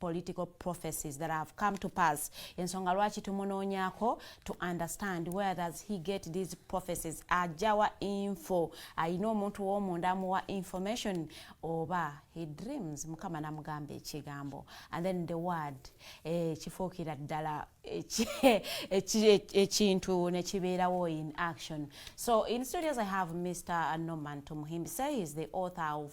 political prophecies that have come to pass ensonga lwaki tumunoonyako to understand where does he get these prophecies ajawa info ayina omuntu womunda amuwa information oba he dreams mukama namugamba ekigambo and then the word eh, kifuukira ddala ekintu nekibeerawo in action so in studios i have mr norman tumuhimbi say he is the author of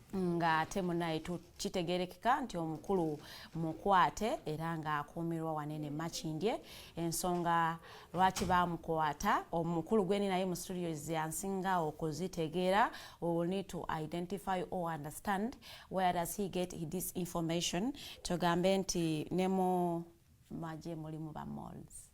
nga ate munaye tukitegerekeka nti omukulu mukwate era nga akuumirwa wanene makindye ensonga lwaki bamukwata omukulu gweni naye mu studio zyansinga okuzitegeera will need to identify or understand where does he get this information tugambe nti ne mu maje mulimu ba malls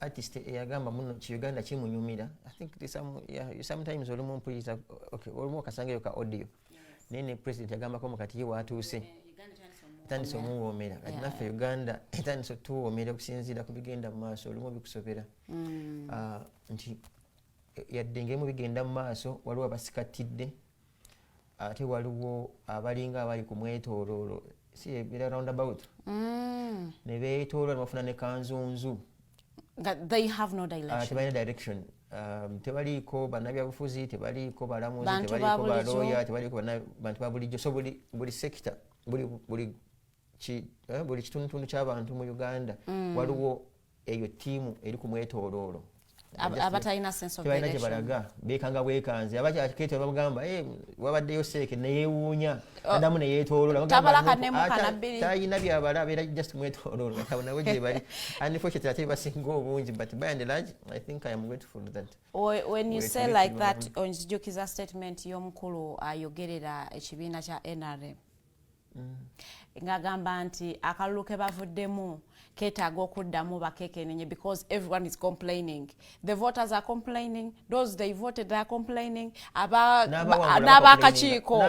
artist eyagamba eh, muno ki Uganda kimunyumira i think this some yeah, you sometimes oli mu mpuyiza okay oli mu kasanga yoka audio naye ne president yagamba ko mukati ye watuuse etandise omuwoomera kati naffe uganda etandise otuwoomera okusinziira ku bigenda mu maaso olumu bikusobera mm. ah, nti eh, yadde ngemu bigenda mu maaso waliwo abasikattidde ate waliwo abalinga abali ku mwetooloolo si ebira round about mm. ne beetoolola nebafuna ne kanzunzu tebalina direction um, tebaliiko bannabyabufuzi tebaliiko balamuzi tebaliiko balooya tebaliiko bantu babulijjo so buli sekita buli eh, buli kitundutundu ky'abantu mu uganda mm. waliwo eyo tiimu eri ku mwetooloolo abatalina sensebalina gye balaga beekanga bwekanze abakyakete bamugamba eh, wabaddeyo seeke neyeewuunya oh. adamu neyeetoololatalina byabala beera just mwetoololo abo nabo gye bali unfortunately ate basinga obungi but by and large i think i am grateful that when you say like that onzijukiza statement y'omukulu ayogerera ekibiina kya nrm mm. ngagamba nti akalulu ke bavuddemu ketaaga okuddamu bakekenenye because everyone is complaining the voters are complaining those they voted they are complaining n'abakakiiko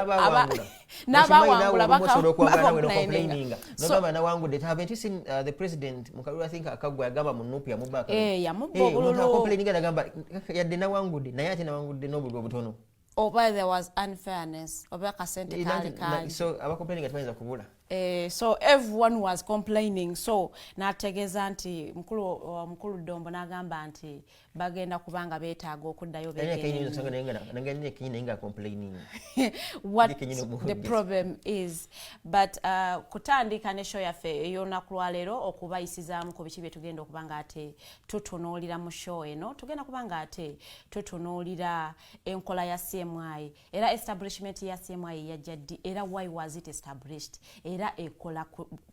n'abawangula bakompulaininga yamubba obululu yadde nawangudde naye ate nawangudde n'obululu obutono oba there was unfairness oba akasente eh, kaali kaali so abakompaininga tebayinza kubula eh, so everyone was complaining so nategeeza nti mukulu uh, mukulu dombo nagamba nti bagenda kubanga betaaga okuddayo the problem is but uh, kutandika ne show yaffe ey'olunaku lwaleero okubayisizaamu ku biki bye tugenda okuba nga ate tutunuulira mu show eno tugenda kuba nga ate tutunuulira enkola ya CMI era establishment ya CMI yajja ddi era why was it established era ekola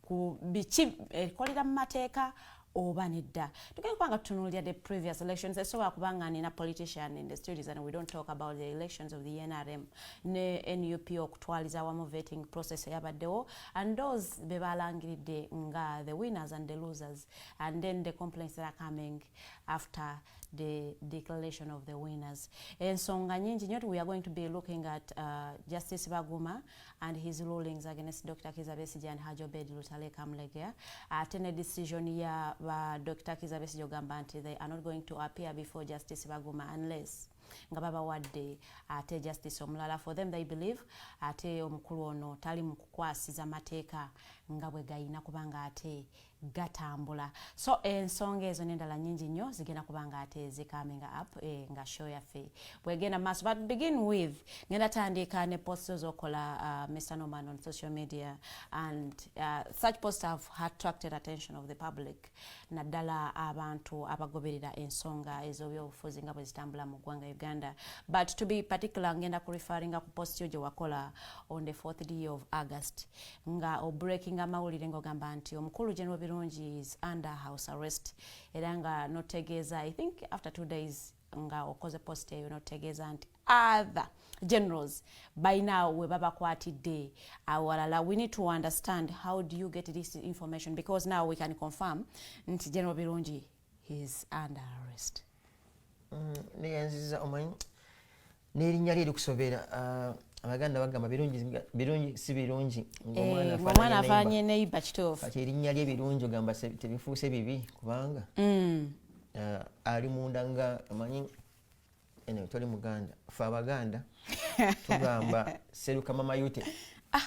ku biki ekolera mu mateeka oba nedda tugenda kubanga tutunuulira the previous elections esobola kubanga nina politician in the studies and we don't talk about the elections of the nrm ne nup okutwaliza awamu vetting process eyabaddewo and those be balangiridde nga the winners and the losers and then the complaints that are coming after the declaration of the winners ensonga nyingi nyo we are going to be looking at uh, justice baguma and his rulings against dr kizabesige and hajobed lutale kamlegea ate uh, ne decision ya ba dr kizabesige ogamba nti they are not going to appear before justice baguma unless nga babawadde ate justice omulala for them they believe ate omukulu ono tali mu kukwasiza mateeka nga bwe gayina kubanga ate gatambula so ensonga ezo nendala nyingi nnyo zigenda kuba nga ate zikaminga up e, nga show yaffe bwegenda maaso but begin with ngenda tandika ne post zokola uh, ah, mr norman on social media and uh, such posts have attracted attention of the public naddala abantu abagoberera ensonga ezobyobufuzi nga bwezitambula mu ggwanga uganda but to be particular ngenda ku referringa ku post yo gyewakola on the fourth day of august nga obreaking amawulire ng'ogamba nti omukulu general birungi is under house arrest era nga notegeeza i think after two days nga okoze post eyo notegeeza nti other generals balina we babakwatidde awalala we need to understand how do you get this information because now we can confirm nti general birungi He's under arrest. Mm, naye nziza omanyi n'erinnya lye likusobera uh, abaganda bagamba birungi si birungi eh, ng'omwana afaanye neiba kituufu kati erinnya lye birungi ogamba tebifuuse bibi kubanga mm. uh, ali munda nga omanyi ene toli muganda fe abaganda tugamba seruka mama yute ah.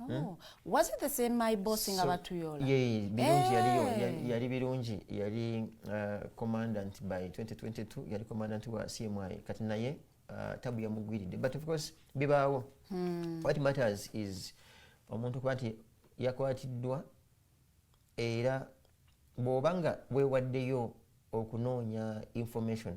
Oh, hmm? was it the same my boss nga batuyola eh. yali birungi yali uh, commandant by 2022 yali commandant wa cmi kati naye uh, tabu yamugwiridde but of course bibaawo hmm. what matters is omuntu kuba nti yakwatiddwa era bw'oba nga weewaddeyo okunoonya information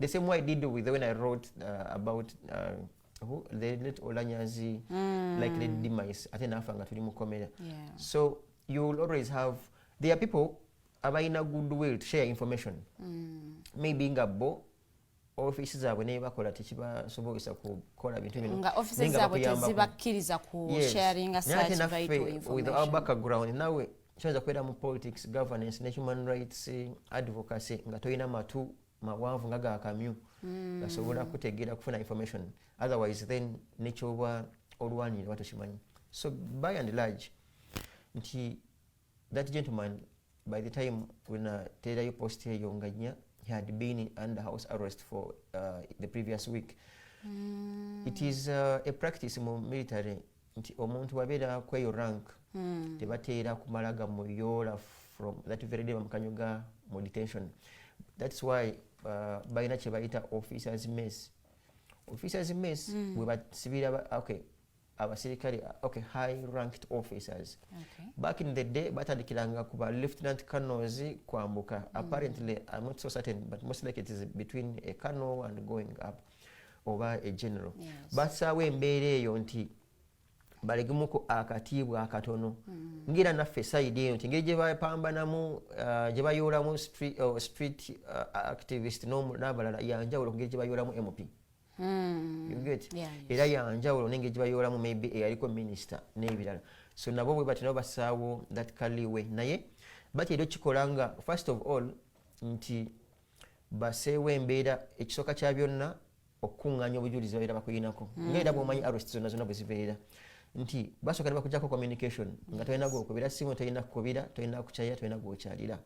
the same way I did with when I wrote uh, about uh, who the late Olanyazi mm. like the demise ate nafa nga tuli mukomera yeah. so you will always have there are people abalina good will to share information mm. maybe nga bo ofisi zaabwe naye bakola tekibasobozesa kukola bintu binonga ofisi zaabwe tezibakkiriza ku yes. sharing such vital information with our background nawe kyoyinza kubeera mu politics governance ne human rights advocacy nga tolina matu mawanvu nga gakamyu mm. gasobola kutegeera kufuna information otherwise then nekyoba olwanira oba tokimanyi so by and large nti that gentleman by the time wenateerayo post eyo nga nya he had been under house arrest for uh, the previous week mm. it is uh, a practice mu military nti omuntu wabeera kweyo rank hmm. tebateera kumala gamuyoola from that very day bamukanyoga mu detention thats why uh, balina kyebayita officers mess officers mess mm. webasibira okay abaserikale okay high ranked officers okay. back in the day batandikiranga kuba lieutenant colonels kwambuka mm. apparently i'm not so certain but most like it is between a colonel and going up oba e general basaawo embeera eyo nti balegemuko akatiibwa akatono mm. ngira naffe saidi eyo nti ngeri gyebapambanamu uh, gyebayoolamu uh, street uh, activist n'abalala yanjawulo kungeri gyebayoolamu mp mm. era yanjawulo nengeri gyebayoolamu maybe eyaliko minister n'ebirala so nabo bwe batyo nabo basaawo that kaliwe naye batera okikola nga first of all nti baseewo embeera ekisooka kya byonna okukuŋŋaanya obujulizi babeera bakuyinako mm. ngaera bwomanyi arest zonna zonna bwezibeera nti basooka ne bakujako communication nga tolina gwokubira simu tolina kukubira tolina kukyalira tolina gwokyalira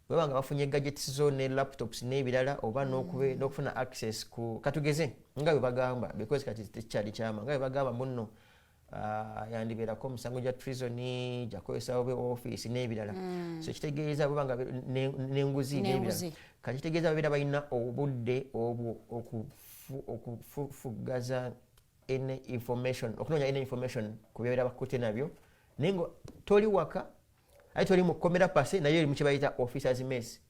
baba nga bafunye gadgets zo ne laptops n'ebirala oba mm. n'okufuna access ku katugeze nga bwe bagamba because kati tekyali kyama nga bwe bagamba munno Ah, yandibeerako omusango gya treason gyakukozesawo be office n'ebirala mm. so kitegeeza bweba nga n'enguzi n'ebirala kati kitegeeza babeera balina obudde obwo okufugaza any information okunoonya any information ku byabeera bakute nabyo naye nga toli waka aye toli mu kkomera pase naye eri mu kye bayita officers mess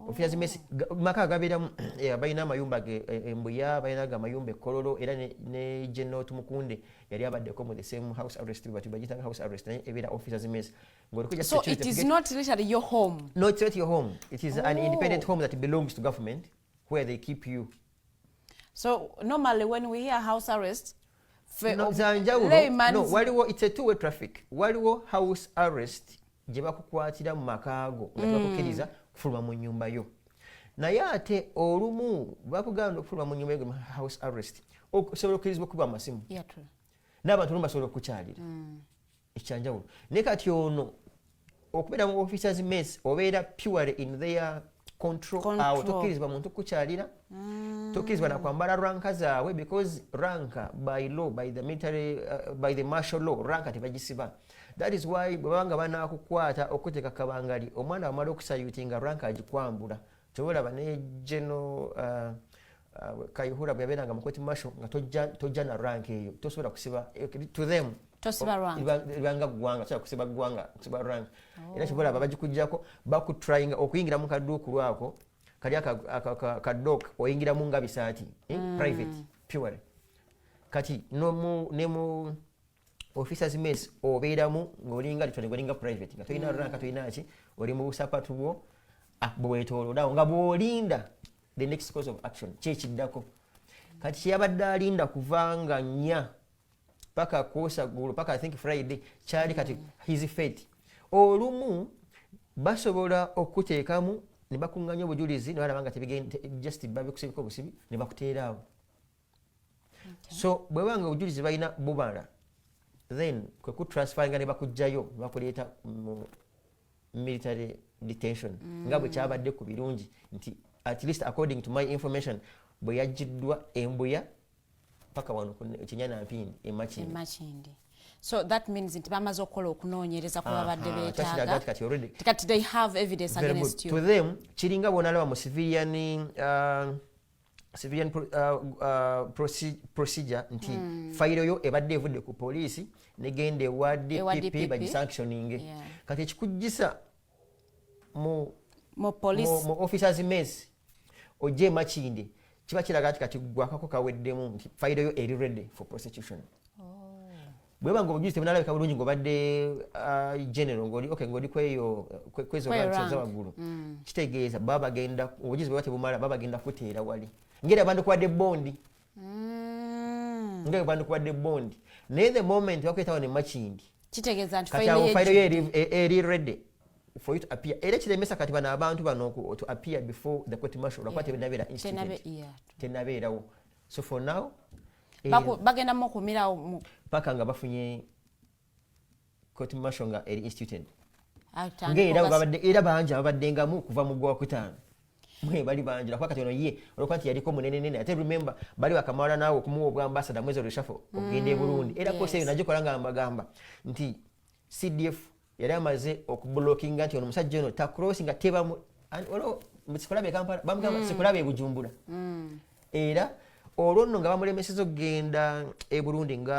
ofiira zimesi maka agabeeramu eh, balina amayumba ge eh, embuya balina ge amayumba ekololo era ne general tumukunde yali abaddeko mu the same house arrest but bagitanga house arrest naye ebeera officer zimesi ngolikujaso it is not literally your home no it's not your home it is oh. an independent home that belongs to government where they keep you so normally when we hear house arrest no, no, waliwo it's a two way traffic waliwo house arrest gye bakukwatira mu makaago nga tebakukiriza mm. kufuluma mu nyumba yo naye ate olumu bakuganda okufuluma mu nyumba yo house arrest osobola okukirizibwa okukuba amasimu n'abantu olumu basobola okukukyalira mm. ekyanjawulo naye kati ono okubeera mu officers mess obeera pure in their control awo tokkirizibwa muntu kukukyalira mm. tokkirizibwa nakwambala ranka zaabwe because ranka by law by the military uh, by the martial law ranka tebagisiba that is why bwebabanga banakukwata okuteeka kabangali omwana wamala okusayuti nga ranka agikwambula kyoba olaba ne geno uh, uh, kayihura bwe yabeeranga mukoti masho nga tojja na rank eyo tosobola kusiba eh, to them ibanga ggwanga sobola kusiba ggwanga kusiba rank era oh. kyoba olaba bagikugjako bakutrayinga okuyingira mu kaduuku lwako kali akadok oyingiramu nga bisaati eh, mm. private pure kati ne mu officers mess obeeramu ng'olinga litone ng'olinga private nga tolina mm. ranka tolina ki oli mu busapatu bwo ah, bwetoloodawo nga bw'olinda the next course of action kyekiddako kati kyeyabadde alinda kuvanga nya paka kwosa gulu paka i think friday kyali kati his fate olumu basobola okuteekamu ne bakuŋŋanya obujulizi ne balaba nga just babikusibiko obusibi ne bakuteeraawo so bweba nga obujulizi balina bubala then kwekutransferinga nebakugjayo bakuleeta mu military detention mm. nga bwekyabadde ku birungi nti at least according to my information bweyajjiddwa embuya paka wano kinyana mpindi emakindi so that means nti bamaze okukola okunoonyereza ku babadde beetaagakati they have evidence against you to them kiringa bwonalaba mu civilian uh, civilian pro, uh, uh, procedure nti mm. fayiro yo ebadde evudde ku poliisi negenda ewa dpp bagisanctioninge yeah. kati ekikujjisa mu, mu, mu, mu officers mes ojje emakindi kiba kiraga nti kati gwakako kaweddemu nti fayiro yo eri ready for prosecution bweba nga obujulizi tebunalabika bulungi ng'obadde uh, general ngoli okay ng'oli kweyo kwezo rankiza waggulu mm. kitegeeza baba bagenda obujulizi bweba tebumala baba bagenda kuteera wali ngeri abantu kubadde bondi mm. ngeri abantu kubadde bondi naye the moment bakwetawo ne makindi kitegeeza nti fayiro yo eri e, ready for you to appear era kiremesa kati bano abantu bano to appear before the court martial lwakuba tenabeera institute tenabeerawo so for now eh, bagenda mu kumirawo paka nga bafunye court martial nga eri instituted nga era babadde era bangi ababaddengamu okuva mu gwakutaano mwe bali bangi nakuba kati ono ye olwokuba nti yaliko munenenene ate remember bali bakamala naawe okumuwa obwambasada mwezi olweshafo okugenda e mm, burundi era kosi eyo nagikola nga mbagamba nti cdf yali amaze okubulokinga nti ono musajja ono takrosi nga tebamu olwo sikulabe kampala bamugamba mm. sikulabe ebujumbula mm. era olwo nno nga bamulemeseza okugenda e burundi nga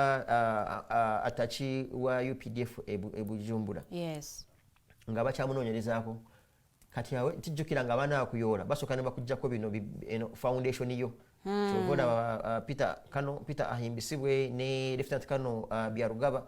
ataki wa updf ebujumbula e nga bakyamunoonyerezaako kati awe tijjukira nga abaana bakuyoola basooka ne bakuggyako bino foundation yo hmm. kyova olaba peter kano peter ahimbisibwe ne leftenant kano byarugaba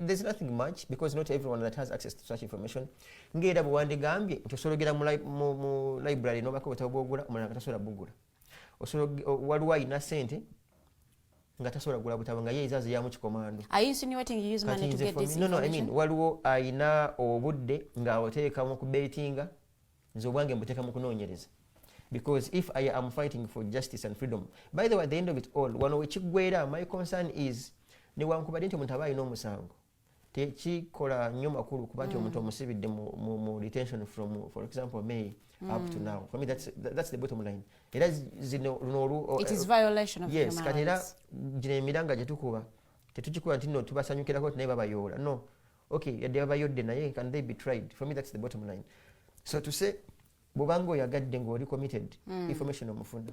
there's nothing much because not everyone that has access to such information ngaera bwewandigambye nti osologera mu library nobako bwetabo bwogula omulala nga tasobola bugula waliwo alina sente nga tasobola gula butabo nga ye ezaze yamu kikomando waliwo alina obudde nga oteekamu kubetinga nze obwange mbuteeka mu kunoonyereza because if i am fighting for justice and freedom by the way at the end of it all wano wekiggwera my concern is newankubadde nti omuntu aba alina omusango tekikola nnyo makulu kuba nti omuntu mm. omusibidde mu detention from for example may mm. up to mm. now for me that's, that's the bottom line era zino luno eh, yes kati era gino emiranga gyetukuba tetukikuba nti no tubasanyukirako nti naye babayoola no okay yadde baba yodde naye can they be tried for me that's the bottom line so to say bwobanga oyagadde ngaoli committed mm. information omufuna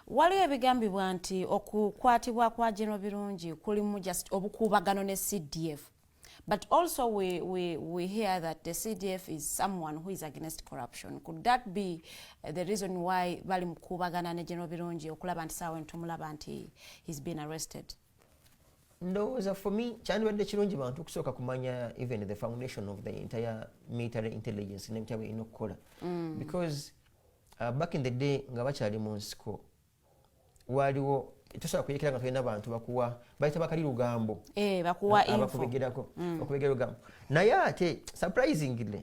waliwo ebigambibwa nti okukwatibwa kwa general birungi kulimu just obukuubagano ne cdf but also we, we, we hear that the cdf is someone who is against corruption could that be uh, the reason why bali mukuubagana ne general birungi okulaba nti saawa entumulaba nti he's been arrested ndowooza for me kyandibadde kirungi bantu okusooka kumanya even the foundation of the entire military intelligence nebitya birina okukola mm. because uh, back in the day nga bakyali mu nsiko waaliwo tosobola kuyekera nga tulina bantu bakuwa bayita bakali lugambo eh, abakubegerako mm. okubegera lugambo naye ate surprisingly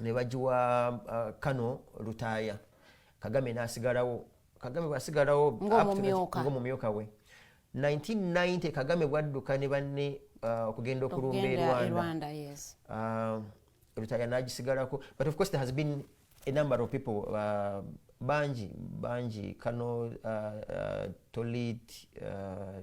nebagiwa uh, kano lutaaya kagame nasigalawo kagame bwasigalawo ngomumyuka we 1990 kagame bwadduka ne banne uh, okugenda uh, okulumba erwanda uh, lutaaya nagisigalako but of course there has been a number of people uh, bangi bangi kano uh, uh, tolit uh,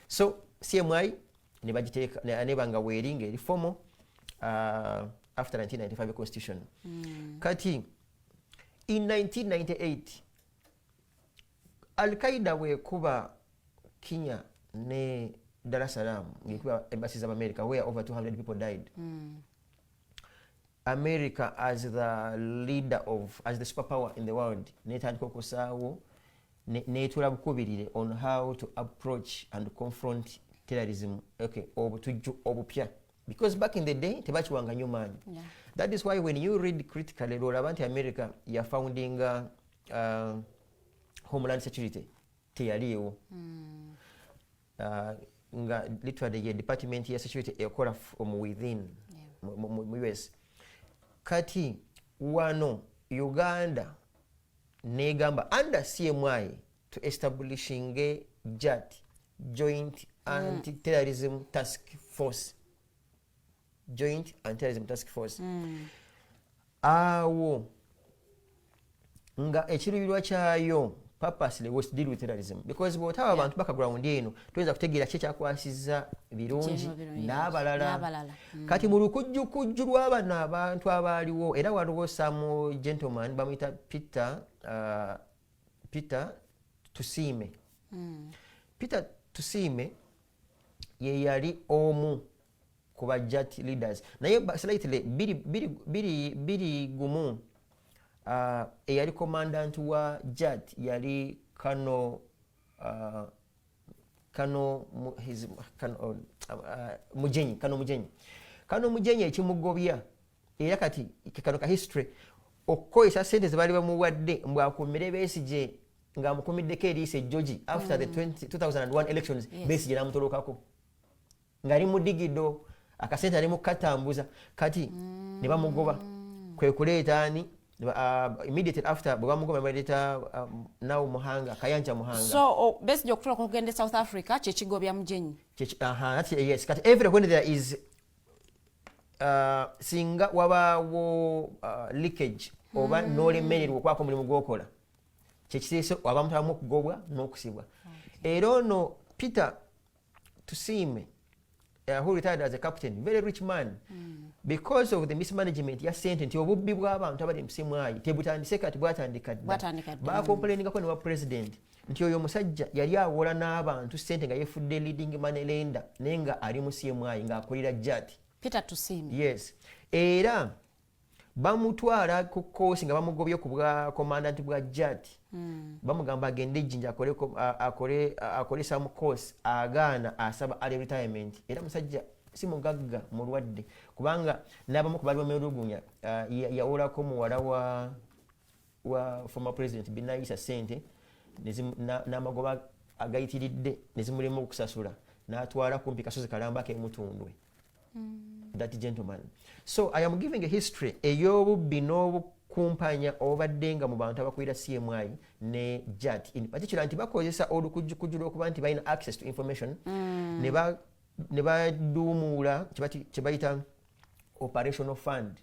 so cmi nebagitekaneba nga weeri nga eri fomo uh, after 1995 constitution mm. kati in 1998 alqaida wekuba kinya ne dar es salaam ngekuba embasi za america where over 200 people died mm. america as the leader of as the super power in the world netandika okusaawo netula bukubirire on how to approach and confront terrorism okay obutujju obupya because back in the day tebakiwanga nyo maanyi yeah. that is why when you read critically lwolaba nti america yafoundinga uh, homeland security teyaliiwo hmm. ah, nga literally ye department ya security ekola mu within mu us kati wano uganda negamba under cmi to establishing a jat joint hmm. anti terrorism task force joint antirism task force mm. awo nga ekiruirwa kyayo purposely was deal with terrorism because bwotaba abantu baka ground eno toyinza kutegeera ki ekyakwasiza birungi n'abalala mm. kati mu lukujjukujju lw'abano abantu abaaliwo era waliwo samu gentleman bamuyita peter uh, peter tusiime mm. peter tusiime ye yali omu ku ba jat leaders naye slightly biri, biri, biri, biri gumu uh, eyali commandant wa jat yali kano uh, kano his, kano, uh, mujenyi kano mujenyi kano mujenyi ekimugobya era kati kano ka history okukozesa sente zebaali bamuwadde mbu akumire besigye ngaamukumiddeko eriisa ejjoji after the 2001 mm. elections besigye namutolokako ngaali mudigido akasente ali mukukatambuza kati mm. ne bamugoba kwe kuleeta ani uh, immediately after bwe bamugoba nebaleta um, naw muhanga kayanja muhanga so oh, besigye okutula kugenda e south africa kyekigobya mujenyi yes kati every when there is uh, singa wabaawo uh, leakage oba mm. nolemererwa okwaka omulimu gwokola kyekiteese abantu abamu okugobwa n'okusibwa era ono peter tusiime uh, who retired as a captain very rich man mm. because of the mismanagement ya sente nti obubbi bw'abantu abali musimwayi tebutandise kati bwatandika dda bakomplainingako ne wa president nti oyo omusajja yali awola n'abantu sente nga yefudde leading money lender naye nga ali mu cmi ng'akolera jati peter tusiime yes era bamutwala ku koosi nga bamugobye ku bwa commandant bwa jat mm. bamugamba agende ejjinja akole some course agaana asaba ali retirement era musajja si mugagga mulwadde kubanga n'abamu ku bali bamulugunya uh, yawolako muwala wa wa former president binayisa sente n'amagoba agayitiridde ne zimulema okusasula n'atwala kumpi kasozi kalamba kemutundwe mm. that gentleman so i am giving a history ey'obubbi n'obukumpanya obadde nga mu bantu abakulira cmi ne jat in particular nti bakozesa olukujjukujju lw'okuba nti balina access to information mm. ne baduumuula kye bayita operational fund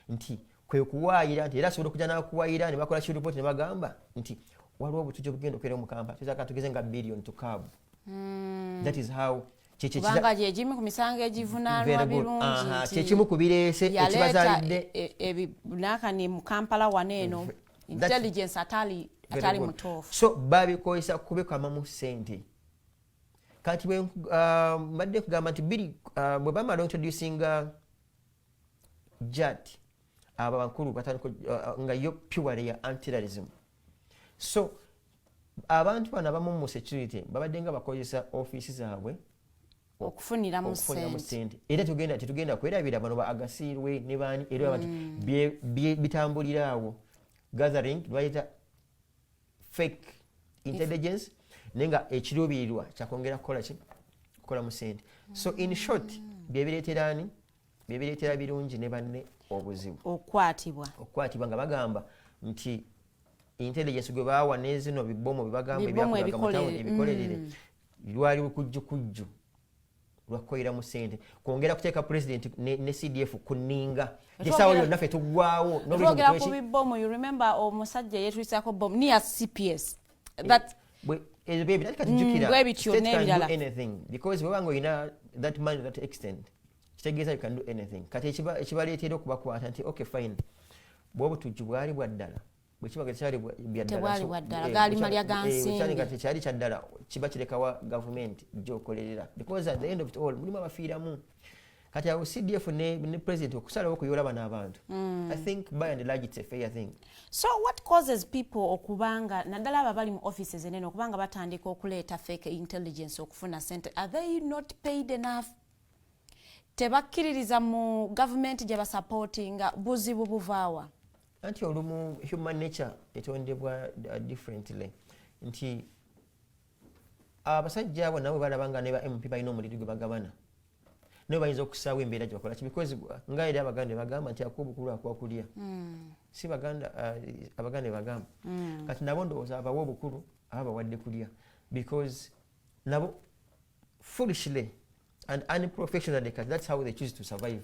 nti kwe kuwaayira nti era asobola okujja n'akuwaayira ne bakola kiripooti ne bagamba nti waliwo obutujja obugenda okubeera omu kampala tuyinza kati tugeze nga billion to cab hmm. that is how kubanga gyegimu ku misango egivunaanwa birungi kyekimu ku bireese ekibazaalidde e, e, e, nakani mu kampala wano eno intelligence atali atali mutuufu so babikozesa kubikamamu sente kati bwe uh, mbadde kugamba nti biri uh, bwe bamala introducinga uh, jad abo abakulu batandika uh, nga yo pure ya antilarism so abantu bano abamu mu security babadde nga bakozesa ofiisi zaabwe okufuniramu sente era tugenda tetugenda kwerabira bano ba agasiirwe ne baani era mm. bitambulira awo gathering bayita fake intelligence naye nga ekiruubirirwa kyakwongera kukola ki kukola mu sente so in mm. short byebireetera ani byebireetera birungi ne banne obuzibu okukwatibwa okukwatibwa nga bagamba nti intelligence gwe baawa nezino bibomu bebagamba ebyakoleraga mutawuni ebikolerere mm. lwali kujjukujju lwakukolera mu sente kwongera kuteeka pulezidenti ne, ne cdf ku nninga gesaawa yonna fe tuggwawo nogera ku bibomu you remember omusajja yetwisako bomu niya cps eh, that ebyo bye bitandika tujjukira bwebityo n'ebirala because webanga olina that money that extent kitegeeza you can do anything kati ekibaleetera okubakwata nti okay fine bwobutujju bwali bwa ddala bwe kiba nga tekyali byaddalatekyali bwaddala eh, gaali malya ga eh, nsimbi nga tekyali kyaddala kiba kirekawa gavumenti gyokolerera because at the end of it all mulimu abafiiramu kati awo cdf ne, ne president okusalawo okuyola bano abantu mm. i think by and large it's a fair thing so what causes people okubanga naddala abo abali mu offices enene okubanga batandika okuleeta fake intelligence okufuna sente are they not paid enough tebakkiririza mu gavumenti gye basapootinga buzibu buvaawa anti olumu human nature etondebwa uh, differently nti abasajja abo nabo balaba nga neba mp balina omuliri gwe bagabana naye bayinza okusaawo embeera gyebakola ki because uh, nga eri abaganda bagamba nti akuwa obukulu akuwa kulya hmm. si baganda uh, abaganda bagamba hmm. kati nabo ndowooza abawa obukulu aba bawadde kulya because nabo foolishly and unprofessionally kati that's how they choose to survive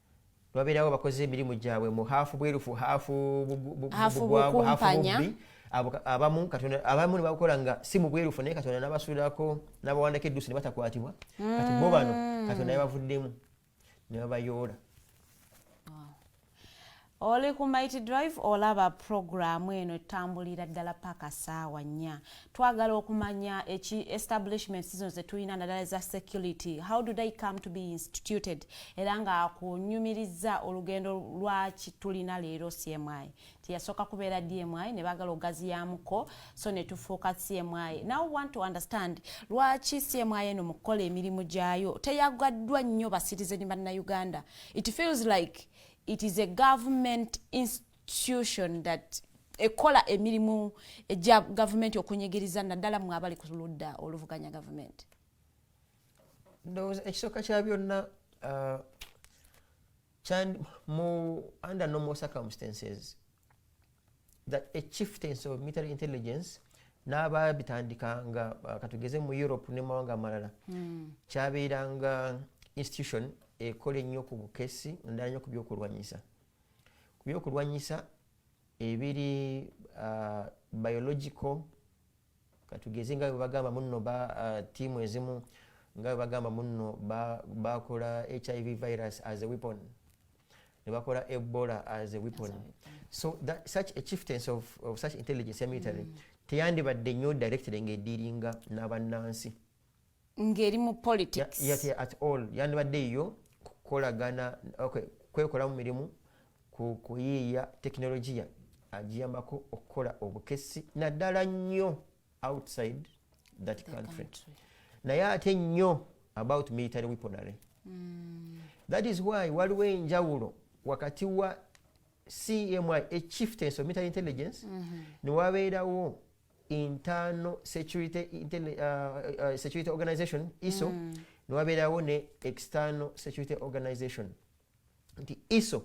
babeerawo bakoze emirimu gyabwe mu haafu bwerufu haafu bugwangu haafu bubbi abamu katonda abamu ne bakola nga si mu bwerufu naye katonda nabasuulako nabawandako eddusi ne batakwatibwa kati bo bano mm. katonda yabavuddemu ne babayoola Oli ku Mighty Drive olaba pulogulaamu eno etambulira ddala paka saawa nnya. Twagala okumanya eki establishment zino ze tulina naddala eza security. How do they come to be instituted? Era nga akunyumirizza olugendo lwaki tulina leero CMI. Tiyasooka kubeera DMI ne baagala ogaziyaamuko so ne tufuuka CMI. Now want to understand lwaki CMI eno mu kukola emirimu gyayo teyagaddwa nnyo basitizeni bannayuganda. It feels like it is a government institution that ekola emirimu egya gavumenti okunyigiriza naddala mwe abali ku ludda oluvuganya gavumenti ndowooza ekisooka kya byonna uh, mu under normal circumstances that a chieftains of military intelligence n'abaabitandika nga uh, katugeze mu europe ne mawanga amalala hmm. kyabeeranga institution ekola ennyo ku bukesi naddala nnyo ku byokulwanyisa ku byokulwanyisa ebiri uh, biological katugeze nga webagamba muno ba uh, tiimu ezimu nga webagamba muno bakola ba hiv virus as a weapon nebakola ebola as a weapon so that, such a chieftains of, of such intelligence ya military mm. teyandibadde nnyo directed nga ediringa n'abannansi ngeri mu politics ya, ya, at all yandibadde yiyo kukolagana okay, kwekolamu mirimu kuyiiya tekinologiya agiyambako okukola obukesi naddala nnyo outside that the country, country. naye ate nnyo about military weaponary mm. that is why waliwo enjawulo wakati wa cmi echieftains of military intelligence mm -hmm. newabeerawo internal security, internal, uh, uh, security organization iso mm. niwabeerawo ne external security organization nti iso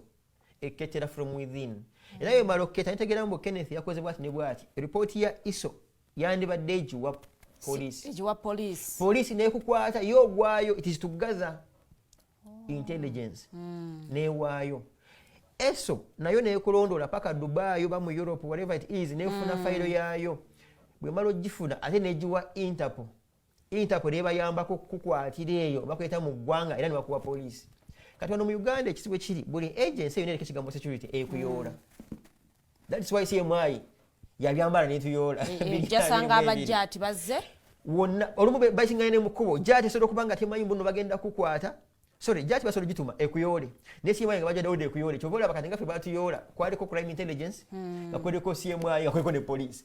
ekketera from within mm. era yo mala okketa nitegeera mbu kenneth yakoze bwati ne bwati ripooti ya iso yandibadde egiwa polisi egiwa polisi polisi nekukwata yo ogwayo it is to gather oh. intelligence mm. newaayo eso nayo nekulondoola paka dubai oba mu europe whatever it is nefuna mm. fayiro yaayo bwemala ogifuna ate negiwa interpol interpol nebayambako kukwatira eyo bakuleta mu ggwanga era nebakuwa poliisi kati wano mu uganda ekizibu ekiri buli agency yona ereka ekigambo security ekuyoola mm. that's why say mwai yabyambala netuyoola eh, eh, jasanga abajjaati bazze wonna olumu basingane mukubo jaati esobola okuba nga temanyi mbuno bagenda kukwata sorry jaati basobola gituma ekuyoole naye simayi nga bajja dawudi ekuyoole kyova olaba kati nga ffe batuyoola kwaliko crime intelligence hmm. nga kuliko cmi nga kuliko ne poliisi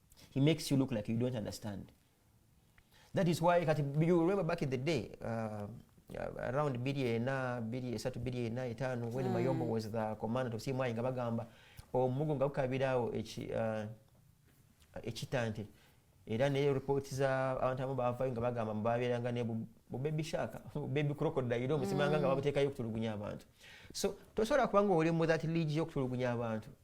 he makes you look like you don't understand that is why kati you remember back in the day uh, uh around biri ena biri esatu biri ena etaano when mm. mayombo was the commander of cmi nga bagamba omugo nga gukabiraawo uh, ekitante era ne report za abantu abamu bavayo nga bagamba mubabeeranga ne bubebi shaka bubebi crocodile omusimanga nga mm. babutekayo okutulugunya abantu so tosobola kubanga oli mu that league yokutulugunya abantu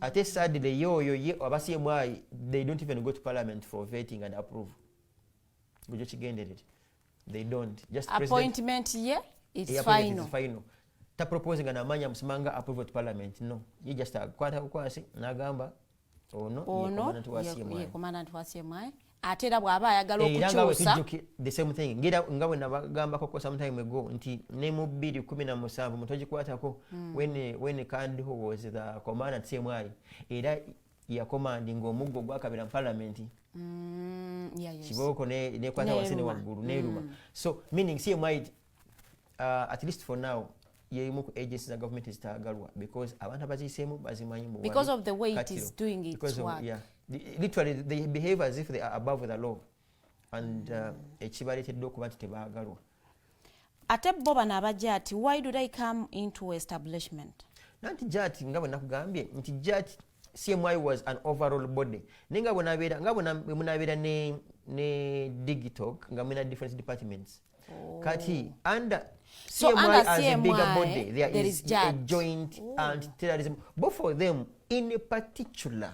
ate sadly ye oyo ye abasiemu ayi they don't even go to parliament for vetting and approve gwejo kigenderere they don't just appointment ye it's final final ta propose nga namanya musimanga approve to parliament no ye just akwata kukwasi nagamba ono ono ye commandant wa CMI ate era bw'aba ayagala okukyusanga bwe nabagambakoko sometime ago nti ne mu bbiri kumi na musanvu mutogikwatako hmm. when kandiho was the commander at cmi era yakomandi ngaomuggo gwakabira mu palamenti hmm, kibooko nekwata wase ne waggulu neruma hmm. so meaning cmi uh, at least for now yeyimu ku agency za government ezitagalwa because abantu abaziyiseemu bazimanyi mu because of the way it is doing its because work of, yeah, literally they behave as if they are above the law and uh, ekibaleetedde okuba nti tebaagalwa ate bo bano abajja ati why do they come into establishment nanti jati nga bwe nakugambye nti jati cmi was an overall body naye nga bwenabeera nga bwemunabeera ne, ne digitalk nga mulina different departments oh. kati under so CMI as CMI, a bigger body there, there is, is a joint Ooh. anti-terrorism both for them in a particular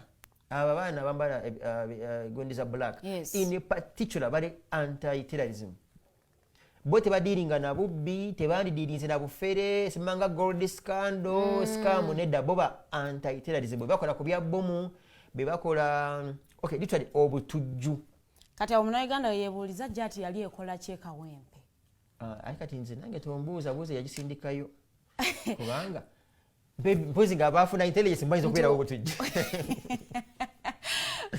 aba baana bambala eh, eh, eh, gondi za black yes. in a particular bali anti-terrorism bo tebadiiringa na bubbi tebandidiirinze na bufere simanga gold scandal mm. scam nedda bo ba anti-terrorism bebakola ku bya bomu bebakola okay literally obutujju kati awo munauganda weyebuuliza jati yali ekola ki ekawempe ah, aye kati nze nange tombuuza buuza yagisindikayo kubanga mpozi nga abaafuna intelligence mbayinza okubeerawo butujja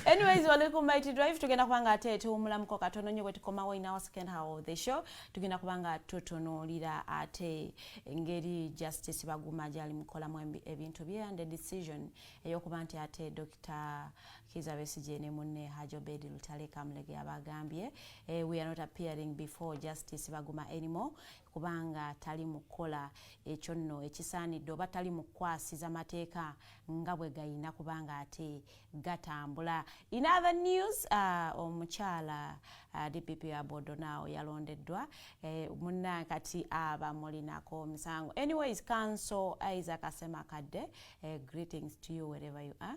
anyways wali ku mighty drive tugenda kuba nga ate tuwumulamuko katono nyo bwetukomawo in our second hour of the show tugenda kuba nga tutunuulira ate engeri justice baguma gyali mukolamu ebintu bye and decision eyokuba nti ate dr Kiza Besigye ne munne Hajj Obed Lutale Kamulegeya baagambye eh, we are not appearing before justice Baguma anymore kubanga tali mu kukola ekyo nno ekisaanidde oba tali mu kukwasiza mateeka nga bwe gayina kubanga ate gatambula. In other news uh, omukyala uh, DPP wa Bodonawo yalondeddwa eh, munna kati abamulinako omusango. Anyways, Council Isaac Asemakadde eh, greetings to you wherever you are.